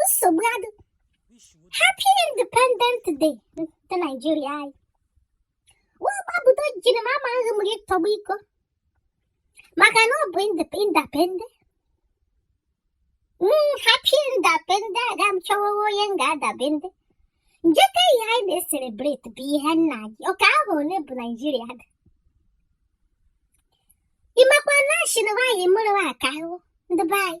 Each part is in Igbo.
nsogbu adụ happy independent day ndị naijiria anyị wee gbapụta jiri m amaghị m gị tọgbu iko maka na ọ bụ independent mm, happy independent aga m chọwa onye m ga-adabende nje ke ihe anyị na-eselebreti bụ ihe nna gị ọka ahụ ole bụ naijiria dị ị makwa na a shị na nwaanyị mụrụ nwa ka ahụ ndị be anyị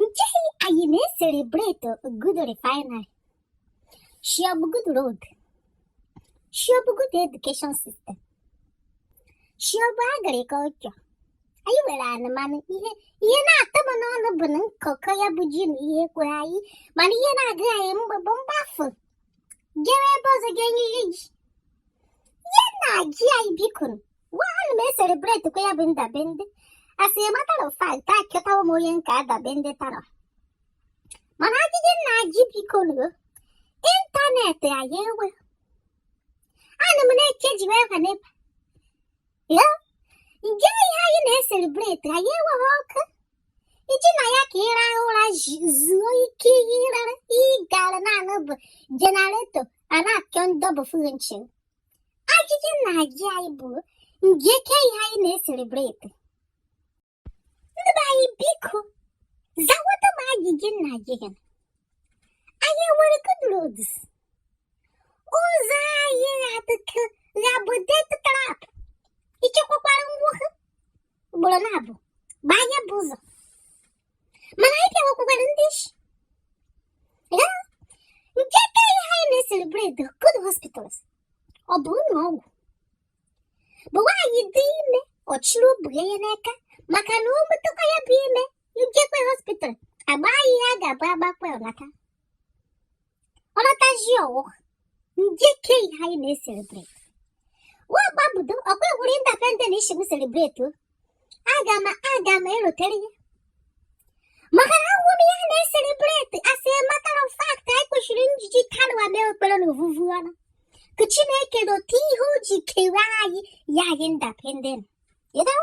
Nje ihe anyị na-eselebrate good refinery, shị ọ bụ good road, shị ọ bụ good education system, shị ọ bụ agriculture. Anyị nwere ana mana ihe na-atọ m n'ọnụ bụ na nkọkọ ya bụ ji na ihe kwere anyị mana ihe na-agụ anyị mgbe bụ mgbafu jewe ebe ọzọ ga-enye ihe ji ihe na-ajị anyị bikonu ana m eselebreti kwa ya bụ ndabende as a matter of fact achọtawo m onye m ga-adabende tara mana ajụjụ m na-ajụ bikonu ịntanetị anyị enwe ana m na-eche ji wee ha n'ebe ya nje ihe anyị na-eselebreti anyị enweghị ọkụ iji na ya ka ịra ụra zuo ike ihe ịrara ị ga na-anụ bụ jenareto a na-achọ ndọbufu gị nchi ajụjụ m na-ajụ anyị bụ nje ke ihe anyị na-eselebreti ndị be anyị biko zawata m ajụjụ m na-ajụ gị anyị nwere good roads ụzọ anyị na-atụkọ ga-abụ death trap ichekwakwara ngwa ugboro na-abụ gbaa ya bụ ụzọ mana anyị ga-enwekwakwara ndị isi nje ke ihe anyị na-eselebrate good hospitals ọ bụ ụlọ ọgwụ bụ nwaanyị dị ime ọ chịrị obi ya n'aka maka na o metakwa ya bụ ime jekwaa hospital agba ya ihe a ga-abụ agbakwa ọ lata ọ natazi ọwụ nje ke ihe anyị na-eselebreti nwa gbabudo ọkwa egwuru independen ị sị m selebreti o aga m aga m erotere ya maka na ahụrọ m ihe a na-eselebreti as a matter of fact anyị kwesịrị njiji taa nwa mee ekpere na ovuvu ọnụ ka chineke rote ihe o ji kere anyị nye anyị independen you know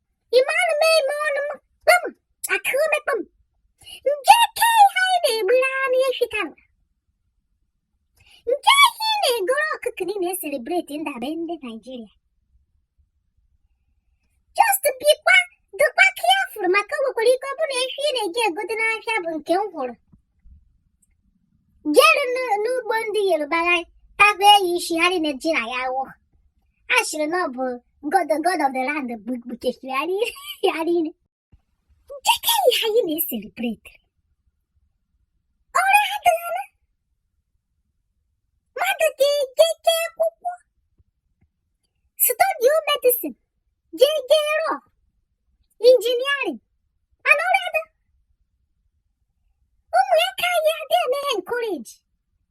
Ịmanụ m eme ọnụ m kpam aka ume kpam. Nje ke ihe anyị na-egburu anụ efi kama. Nje ihe ị na-egoro ọkụkọ niile eselebreti ndabende Naijiria. Just biko dịkwa careful maka o nwekwara ike ọ bụrụ na efi ị na-eje egote n'ahịa bụ nke m hụrụ jere n'ugbo ndị Yoruba ha tagoo ya isi ha niile ji na ya wụọ. a sịrị na ọ bụ god god of the land gbukechiri ya niile njeke ihe anyị na-eselebreti ọrụ adịghịla mmadụ ga-ejeke akwụkwọ study medicine jee jee rọ injiniarin mana ọrụ ada ụmụ ya ka anyị adịghị emeghe encourage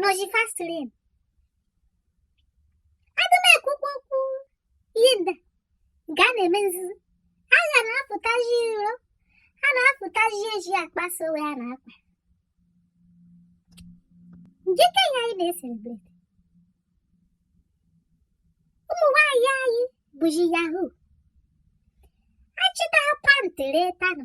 nọzi fast lane aga m ekwukwa okwu ihe ndị a nke a na-eme nzuzo a ga na-apụtazi iro a na-apụtazi ezi akpasa ya a na-akpa njeke ihe anyị na-eselebreti ụmụ nwaanyị anyị bụzi yahoo achịta ha pantị reta na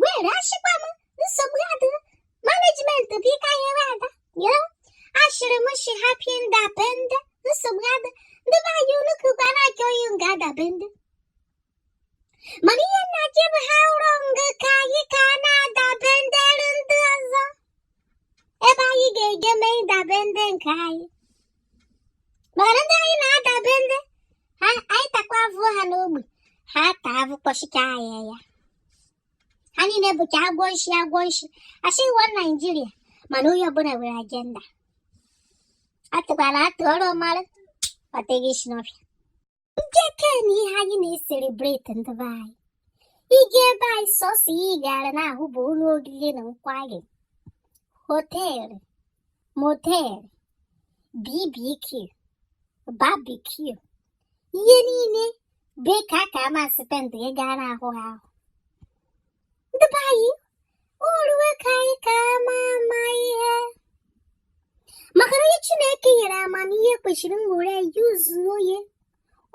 were ashịkwa m nsogbu adị management bụ ike anyị ewe ada yo ashịrị m shi happy independence nsogbu adị ndị be anyị unu kụkwa na-achọ onye unu ga-adepende mana ihe m na-ajụ bụ how long ka anyị ka na-adependere ndị ọzọ ebe anyị ga-eje mee independence nke anyị mana ndị anyị na-adepende anyị takwa avụ ha n'ogbe ha taa avụ kpọchika anyị ya ha niile bụcha agwọ nshi agwọ nshi asị iwa naijiria mana onye ọbụla nwere ajenda atụkwala atụ ọrụ mara ọteghị isi n'ọfịa njekenụ ihe anyị na-eselebreti ndị be anyị ị gaa ebe anyị sọsọ ihe ị gaara na-ahụ bụ ụlọ oriri na nkwari họteelụ moteelụ bbq barbecue ihe niile bụ ka a ka ama spendụ ị ga na-ahụ ha ahụ ndị be anyị oruwe ka anyị ka ama ama ihe maka na onye chineke nyere amamihe kwesịrị nwere ya yuzuo ya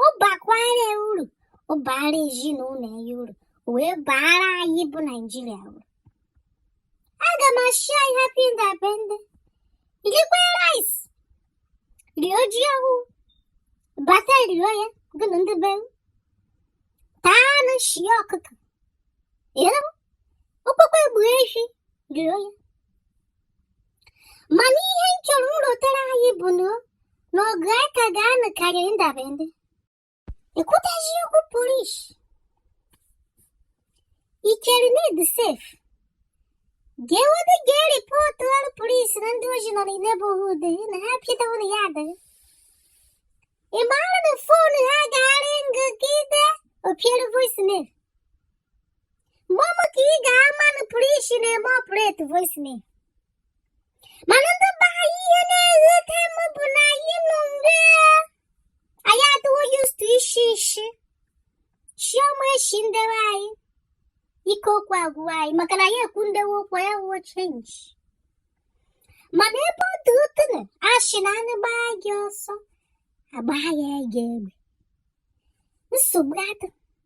ọ bakwara uru ọ baara ezinụlọ ya uru wee baara anyị bụ naijiria uru aga m ashị anyị happy independence rikwe rice rio ji ọhụụ bata rio ya gụnụ ndị be m taa anụ shie ọkụkọ okpokpo egbu ehi jụrụ onye mana ihe m chọrọ nrụtara anyị bụ na ọgụ a ka ga-anụ karịrị independence e kwutazi okwu polis i chere need sef ga-enwede ga ripọtụọrọ polis na ndị oshi nọ na neighborhood na ha pụtawa na ya adịghị ị maara na fon ha ga-aringụgide o piere voicemail mama ka ị ga-ama na polisi na-eme operate voicemail mana ndị be anyị ihe na-egheta m bụ na anyị nọ mgbe anyị adịwo used to isi isi chioma eshi ndewe anyị ike okwu agwụwa anyị maka na ya ekwu ndewe okwu ya wuo change mana ebe ọ dị otu na ashị na anụ gbaa ajọ ọsọ agbaa ya ajọ egbe nsogbu adị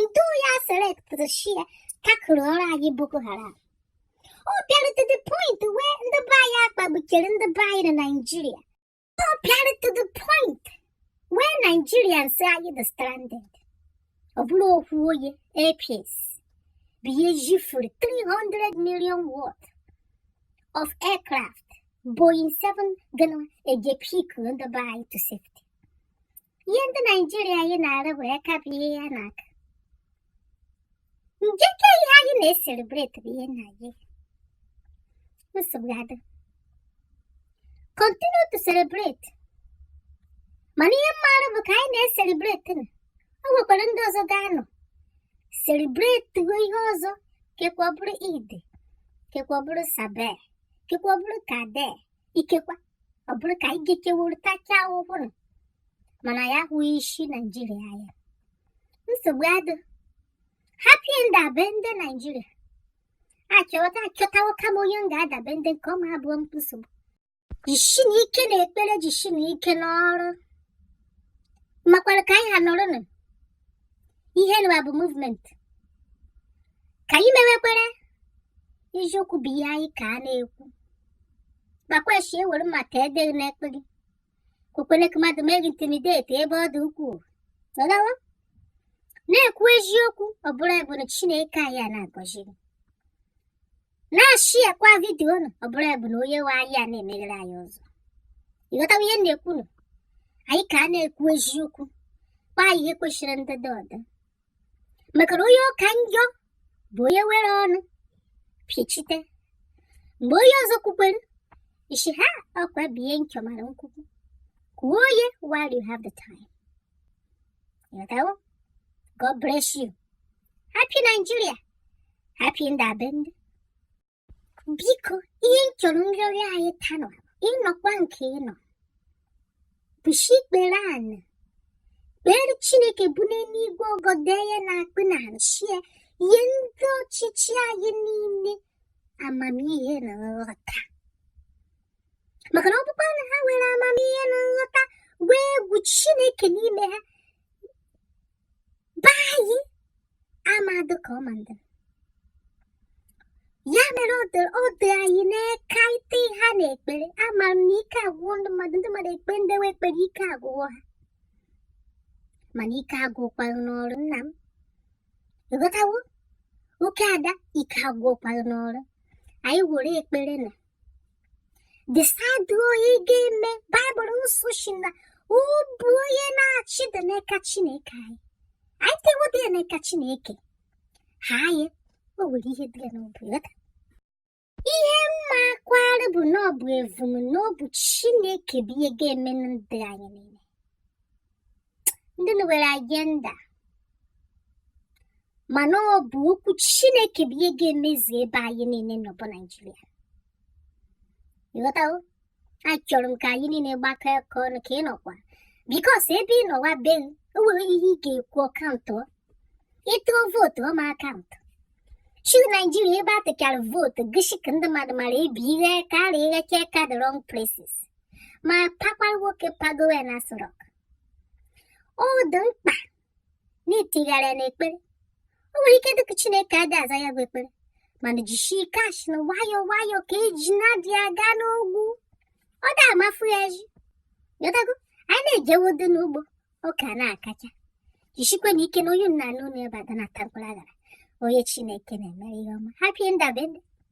ndị ya selectịrị shi ya tackle-ọrọ anyị boko haram ọ bịara to the point where ndị be anyị akpagbuchere ndị be anyị na naijiria ọ bịara to the point where Nigerians anyị dị stranded ọ bụrụ okwu oye Air Peace bụ ihe jifuru 300 million worth of aircraft Boeing 7 ga na-eje pick ndị be anyị to safety ihe ndị naijiria anyị na-arụ bụ aka bụ ihe ya n'aka njeke ihe anyị na-eselebreti bụ ihe na anyị nsogbu adị continue to celebrate mana ihe m maara bụ ka anyị na-eselebreti na o nwekwara ndị ọzọ ga-anọ selebreti ihe ọzọ kekwa ọ bụrụ ide kekwa ọ bụrụ sabe kekwa ọ bụrụ kade ikekwa ọ bụrụ ka anyị gekewuru tachaa ụbụrụ mana ya ahụghị isi naijiria anya nsogbu adị happy ndabende naijiria achọta achọtawo kama onye m ga-adabende nke ọma abụọ m nsogbu jishi na ike n'ekpere jishi na ike n'ọrụ makwara ka anyị ha nọrọnụ ihe nwa bụ movement ka anyị mewekwere eziokwu bụ ihe anyị ka a na-ekwu gbakwashi ewere maka edeghị n'ekpere ekwekwere ka mmadụ mee gị intimidate ebe ọ dị ukwuu nọdawa na-ekwu eziokwu ọ bụrụ ebe na chineke anyị a na-agọzi gị na-asharekwa vidiyo unu ọ bụrụ ebe na onye nwe anyị a na-emeghere anyị ụzọ ị ghọtawa ihe m na-ekwu nụ anyị ka a na-ekwu eziokwu kpaa ihe kwesịrị ndị dị ọdụ maka na onye ọ ka njọ bụ onye were ọnụ pịchite mgbe onye ọzọ kwukwere isi ha ọkwa bụ ihe nchọ mara nkwukwu kwuo onye while you have the time ị ghọtawo God bless you happy Nigeria happy ndabende biko ihe m chọrọ nrịọrịọ anyị tanụ ị nọkwa nke ị nọ gbushi ikpere anị kpere chineke bu n'eluigwe ogo dee ya na akpị na nchie ihe ndị ọchịchị anyị niile amamihe na nghọta maka na ọ bụkwa na ha nwere amamihe na nghọta nwee egwu chineke n'ime ha be anyị amadụ ka ọ mandịrị ya mere ọ dị anyị n'aka ite ha n'ekpere ama m na ike agwụwo ndị mmadụ ndị mmadụ ekpe ndewe ekpere ike agwụwo ha mana ike agwụkwaghị n'ọrụ nna m ịghọtawo oke ada ike agwụkwaghị n'ọrụ anyị were ekpere na decide onye ga-eme Baịbụl nsọ sị na obi onye na-achị dị n'aka Chineke anyị anyị tewodị ya n'aka Chineke ha anyị o nwere ihe dị ya n'obi ya ihe m makwara bụ na ọ bụ evum n'obi Chineke bụ ihe ga-eme na ndụ anyị niile ndị nwere agenda mana ọ bụ okwu chineke bụ ihe ga-emezu ebe anyị niile nọ bụ naijiria ịghọtawo achọrọ m ka anyị niile gbakọ aka ọnụ ka ị nọkwa because ebe ị nọwa be gị o nwere ihe ị ga-ekwu ọ count ị tụọ vote ọ ma count chi naijiria ebe a tụchara vote goshi ka ndị mmadụ mara ebi ihe karịa ihe cheka the wrong places ma pakwa nwoke pagowe n'Aso Rock ọ dị mkpa na itigharị ya n'ekpere o nwere ike dịka chineke adị aza ya bụ ekpere mana jishi ike a shị na nwayọọ nwayọọ ka ejuna ji aga n'ogwu ọ dị amafu ya ịghọtago anyị na-ejewodo n'ugbo ọka ana-akacha jisikwe na ike na onye nna anụ na ebe ada na-ata mkpụrụ añara onye chineke na-emere ihe ọma happy independence